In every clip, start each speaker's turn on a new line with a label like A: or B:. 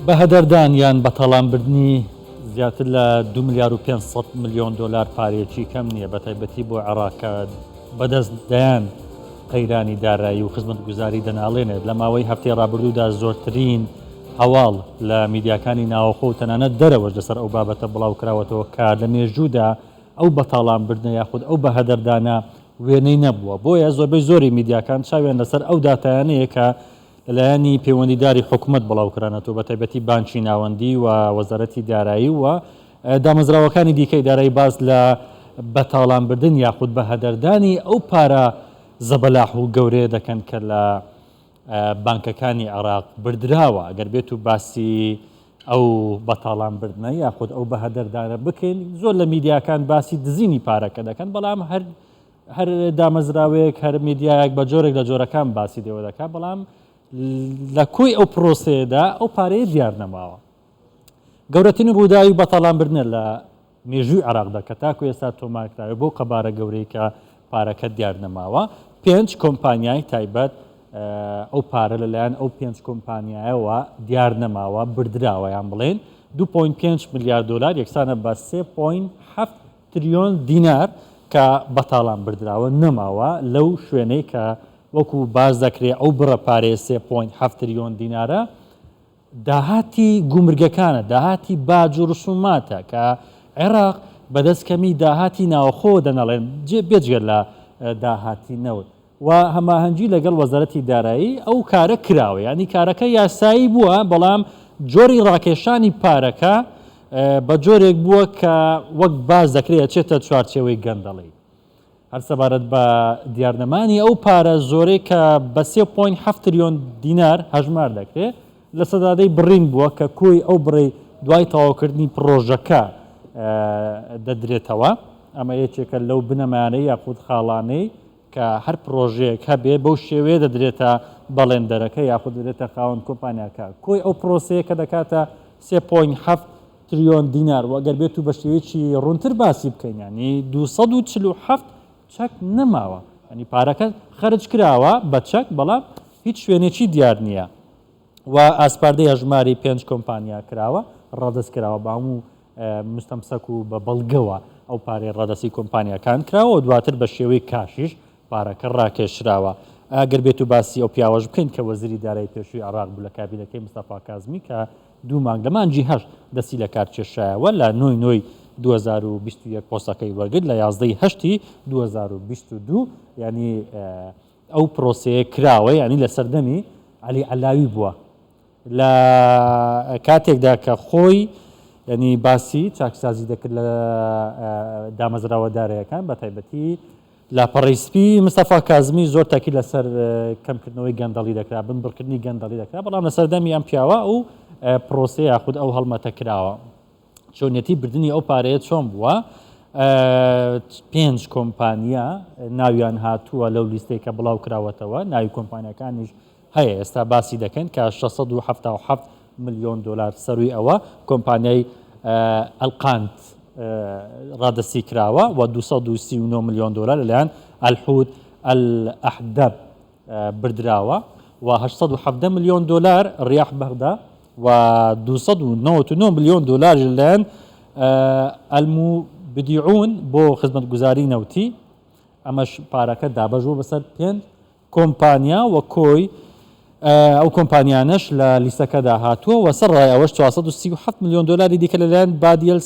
A: بە هەدەردان یان بە تاڵانبردنی زیاتر لە دوو ملیار و پێنج سەد ملیۆن دۆلار پارەیەکی کەم نییە، بەتایبەتی بۆ عێراق کە بەدەست دەیان قەیرانی دارایی و خزمەتگوزاری دەناڵێنێت، لە ماوەی هەفتەی ڕابردوودا زۆرترین هەواڵ لە میدیاکانی ناوەخۆ و تەنانەت دەرەوەش لەسەر ئەو بابەتە بڵاوکراوەتەوە کە لە مێژوودا ئەو بەتاڵانبردنە یاخود ئەو بەهەدەردانە وێنەی نەبووە، بۆیە زۆربەی زۆری میدیاکان چاویان لەسەر ئەو داتایانەیە کە لەلایەنی پەیوەندیداری حکومەت بڵاوکرانەتوو بەتایبەتی بانکی ناوەندی و وەزارەتی دارایی و دامەزراوەکانی دیکەی دارایی باس لە بەتاڵانبردن یاخود بەهەدەردانی ئەو پارە زەبەلاح و گەورەیە دەکەن کە لە بانکەکانی عێراق بردراوە ئەگەر بێت و باسی ئەو بەتاڵان بردنە یاخود ئەو بەهەدەردانە بکەین زۆر لە میدیاکان باسی دزینی پارەکە دەکەن بەڵام هەر هەر دامەزراوەیەک هەر میدیایەک بە جۆرێک لە جۆرەکان باسی لێوە دەکات بەڵام لە کۆی ئەو پرۆسەیەدا ئەو پارەیە دیار نەماوە گەورەترین ڕووداوی بەتاڵان بردنە لە مێژووی عراقدا کە تاکو ئێستا تۆمارکراوە بۆ قەبارە گەورەی کە پارەکە دیار نەماوە پێنج کۆمپانیای تایبەت ئەو پارە لەلایەن ئەو پێنج کۆمپانیایەوە دیار نەماوە بردراوەیان بڵێن 2.5 میلیارد دلار یەکسانە بە 3.7 تریۆن دینار کە بەتاڵان بردراوە نەماوە، لەو شوێنەی کە وەکو باس دەکرێ ئەو بڕە پارەیە سێ پۆینت حەفت تریۆن دینارە داهاتی گومرگەکانە، داهاتی باج و رسوماتە کە عێراق بەدەست کەمی داهاتی ناوەخۆوە دەناڵێن بێجگە لە داهاتی نەوت. و هەماهەنگی لەگەڵ وەزارەتی دارایی ئەو کارە کراوە یانی کارەکە یاسایی بووە بەڵام جۆری ڕاکێشانی پارەکە بە جۆرێک بووە کە وەک باس دەکرێت ئەچێتە چوارچێوەی گەندەڵی هەر سەبارەت بە دیارنەمانی ئەو پارە زۆرەی کە بە 3.7 تریۆن دینار هەژمار دەکرێت لە سەدادەی بڕین بووە کە کۆی ئەو بڕی دوای تەواوکردنی پڕۆژەکە دەدرێتەوە ئەمە یەکێکە لەو بنەمانەی یاخود خاڵانەی کە هەر پڕۆژەیەک هەبێ بەو شێوەیە دەدرێتە بەڵێندەرەکە یاخود دەدرێتە خاوەن کۆمپانیاکە کۆی ئەو پڕۆسەیە کە دەکاتە سێ پۆینت حەفت تریۆن دینار وە گەر بێتو بە شێوەیەکی ڕوونتر باسی بکەین یانی دوو سەد و چل و حەفت چەک نەماوە یانی پارەکە خەرج کراوە بە چەک بەڵام هیچ شوێنێکی دیار نییە و ئاسپاردەی هەژماری پێنج کۆمپانیا کراوە ڕادەست کراوە بە هەموو مستەمسەک و بە بەڵگەوە ئەو پارەی ڕادەستی کۆمپانیاکان کراوە و دواتر بە شێوەی کاشیش پارەکە ڕاکێشراوە ئەگەر بێت و باسی ئەو پیاوەش بکەین کە وەزیری دارایی پێشووی عێراق بوو لە کابینەکەی مستەفا کازمی کە دوو مانگ لە مانگی هەشت دەستی لە کار کێشایەوە لە نۆی نۆی 2021 پۆستەکەی وەرگرت لە یازدەی هەشتی 2022 یانی ئەو پرۆسەیە کراوە یانی لە سەردەمی عەلی عەلاوی بووە لە کاتێکدا کە خۆی یانی باسی چاکسازی دەکرد لە دامەزراوە دارایەکان بە تایبەتی لاپەڕەی سپی مستەفا کازمی زۆر تاکی لەسەر کەمکردنەوەی گەندەڵی دەکرا بنبڕکردنی گەندەڵی دەکرا بەڵام لە سەردەمی ئەم پیاوە ئەو پرۆسەیە یاخود ئەو هەڵمەتە کراوە. چۆنیەتی بردنی ئەو پارەیە چۆن بووە؟ پێنج کۆمپانیا ناویان هاتووە لەو لیستەی کە بڵاو کراوەتەوە ناوی کۆمپانیەکانیش هەیە ئێستا باسی دەکەن کە 677 ملیۆن دلار سەروی ئەوە کۆمپانیای ئەلقانت ڕادستی کراوە و 239 ملیۆن دلار لەلایەن ئەلحوت ئەحدەب بردراوە و 1970 ملیۆن دلار ڕیاح بەغدا و دوو سەد و نەوەد و نۆ ملیۆن دۆلاریش لەلایەن ئەلموبدیعون بۆ خزمەتگوزاری نەوتی، ئەمەش پارەکە دابەش بووە بەسەر پێنج کۆمپانیا و کۆی ئەو کۆمپانیانەش لە لیستەکەدا هاتووە و سەرەڕای ئەوەش چوار سەد و سی و حەفت ملیۆن دۆلاری دیکە لەلایەن بادیەل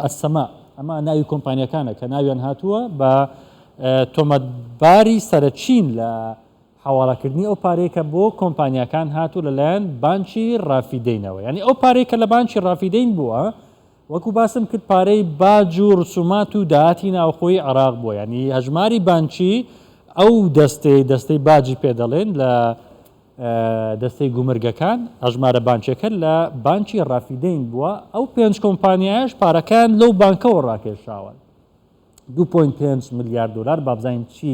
A: ئەلسەما، ئەمە ناوی کۆمپانیاکانە کە ناویان هاتووە بە تۆمەتباری سەرەکین لە حەواڵەکردنی ئەو پارەیە کە بۆ کۆمپانیاکان هاتووە لەلایەن بانکی ڕافیدەینەوە یانی ئەو پارەی کە لە بانکی ڕافیدەین بووە وەکو باسم کرد پارەی باج و ڕسومات و داهاتی ناوخۆی عێراق بووە یانی هەژماری بانکی ئەو دەستەی دەستەی باجی پێ دەڵێن لە دەستەی گومرگەکان هەژمارە بانکیەکە لە بانکی ڕافیدەین بووە ئەو پێنج کۆمپانیایش پارەکان لەو بانکەوە ڕاکێشاون دوو پۆینت پێنج ملیار دۆلار بابزانین چی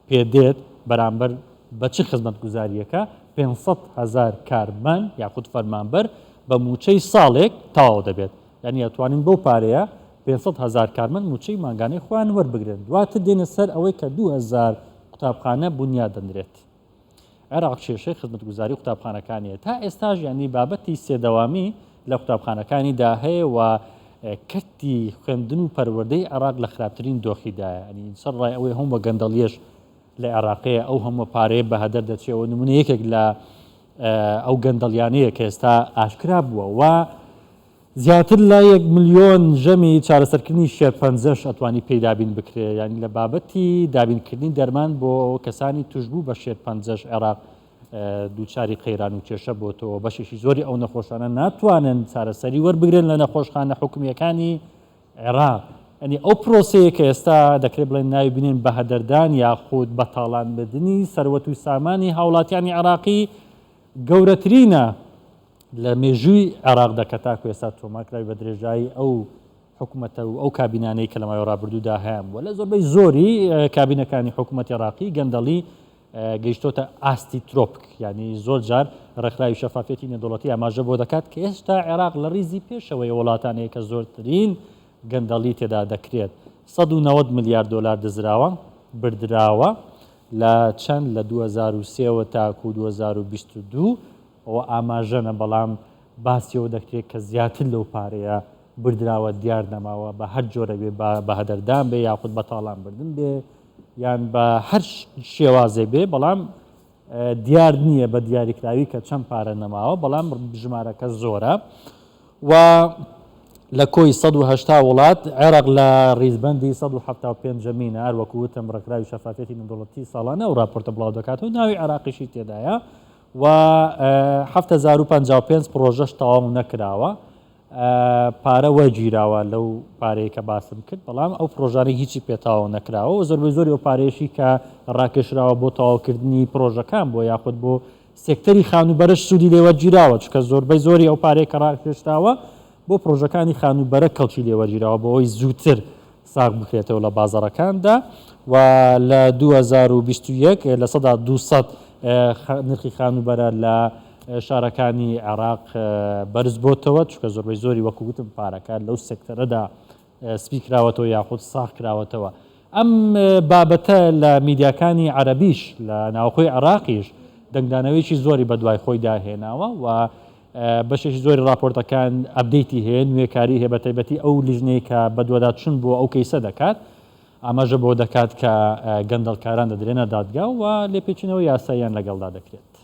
A: پێ دێت بەرامبەر بە چ خزمەتگوزارییەکە پێنج سەد هەزار کارمەن یاخود فەرمانبەر بە مووچەی ساڵێک تەواو دەبێت یعنی ئەتوانین بەو پارەیە پێنج سەد هەزار کارمەند مووچەی مانگانەی خۆیان وەربگرن دواتر دێنە سەر ئەوەی کە دوو هەزار قوتابخانە بونیادەنرێت عێراق کێشەی خزمەتگوزاری قوتابخانەکانیە تا ئێستاش یانی بابەتی سێدەوامی لە قوتابخانەکانیدا هەیە و کەرتی خوێندن و پەروەردەی عێراق لە خراپترین دۆخیدایە ئەنی سەر ڕای ئەوەی هەم بە گەندەڵیەش لە عێراقەیە ئەو هەموو پارەیە بە هەدەر دەچێەوە نمونە یەکێک لە ئەو گەندەڵیانەیە کە ئێستا ئاشکرا بووە و زیاتر لە یەک ملیۆن ژەمی چارەسەرکردنی شێرپەنجەش ئەتوانی پێی دابین بکرێ، یانی لە بابەتی دابینکردنی دەرمان بۆ کەسانی توشبوو بە شێرپەنجەش عێراق دووچاری قەیران و کێشە بۆتەوە، بەشێکی زۆری ئەو نەخۆشانە ناتوانن چارەسەری وەربگرن لە نەخۆشخانە حکومییەکانی عێراق. یانی ئەو پرۆسەیە کە ئێستا دەکرێ بڵێن ناوی بنێن بەهەدەردان یاخود بە تاڵانبردنی سەروەت و سامانی هاوڵاتیانی عێراقی گەورەترینە لە مێژووی عێراقدا کە تاکو ئێستا تۆمارکراوی بە درێژایی ئەو حکومەتە و ئەو کابینانەی کە لە ماوەی ڕابردوودا هەیان بووە لە زۆربەی زۆری کابینەکانی حکوومەتی ڕاقی گەندەڵی گەیشتۆتە ئاستی ترۆپک یعنی زۆر جار ڕێکخراوی شەفافەتی نێدوڵەتی ئاماژە بۆ دەکات کە ئێستا عێراق لە ڕیزی پێشەوەی وڵاتانەیە کە زۆرترین گەندەڵی تێدا دەکرێت 1970 ملیار دلار دزراوە بردراوە لە چەند لە 2023 تاکو 2022 ئەوە ئاماژەە بەڵام باسی ئەوە دەکرێت کە زیاتر لەو پارەیە بردراوە دیار نەماوە بە هەر جۆرە بێ با بەهەدەردان بێ یاخود بە تاڵان بردن بێ یان بە هەر شێوازێ بێ بەڵام دیار نییە بە دیاریکراوی کە چەند پارە نەماوە بەڵام ژمارەکە زۆرە و لە کۆی 1970 وڵات عێراق لە ریزبندی 1970 مینە هەروەکووتم ڕکراوی شەفافەتی مندوڵەتی ساڵانە و راپۆرتە بڵاو دەکات و ناوی عراقیشی تێدایە و حەفت هەزار و پەنجا و پێنج پڕۆژەش تەواو نەکراوە پارە وەرگیراوە لەو پارەیە کە باسم کرد بەڵام ئەو پرۆژانەی هیچی پێتاوە نەکراوە و زۆربەی زۆری ئەو پارێشی کە ڕاکێشراوە بۆ تەواوکردنی پرۆژەکان بۆ یاخود بۆ سێکتەری خانوبەرش سوودی لێوەرگیراوە چکە زۆربەی زۆری ئەو پارەیە کە ڕاکێشراوە بۆ پرۆژەکانی خانوبەرە کەڵکی لێوەرگیراوە بۆ ئەوی زووتر ساغ بکرێتەوە لە بازاڕەکاندا و لە دوو هەزار و بیست و یەک لە سەدا دوو سەد نرخی خانووبەرە لە شارەکانی عێراق بەرز بۆتەوە چکە زۆربەی زۆری وەکو گوتم پارەکە لەو سێکتەرەدا سپی کراوەتەوە یاخود ساخ کراوەتەوە ئەم بابەتە لە میدیاکانی عەربیش لە ناوخۆی عێراقیش دەنگدانەوەیکی زۆری بە دوای خۆی داهێناوە و بەشێکی زۆری ڕاپۆرتەکان ئەپدەیتی هەیە، نوێکاری هەیە بەتایبەتی ئەو لیژنەی کە بەدواداچون بۆ ئەو کەیسە دەکات ئاماژە بەوە دەکات کە گەندەڵکاران دەدرێنە دادگا و لێپێچینەوەی یاساییان لەگەڵدا دەکرێت.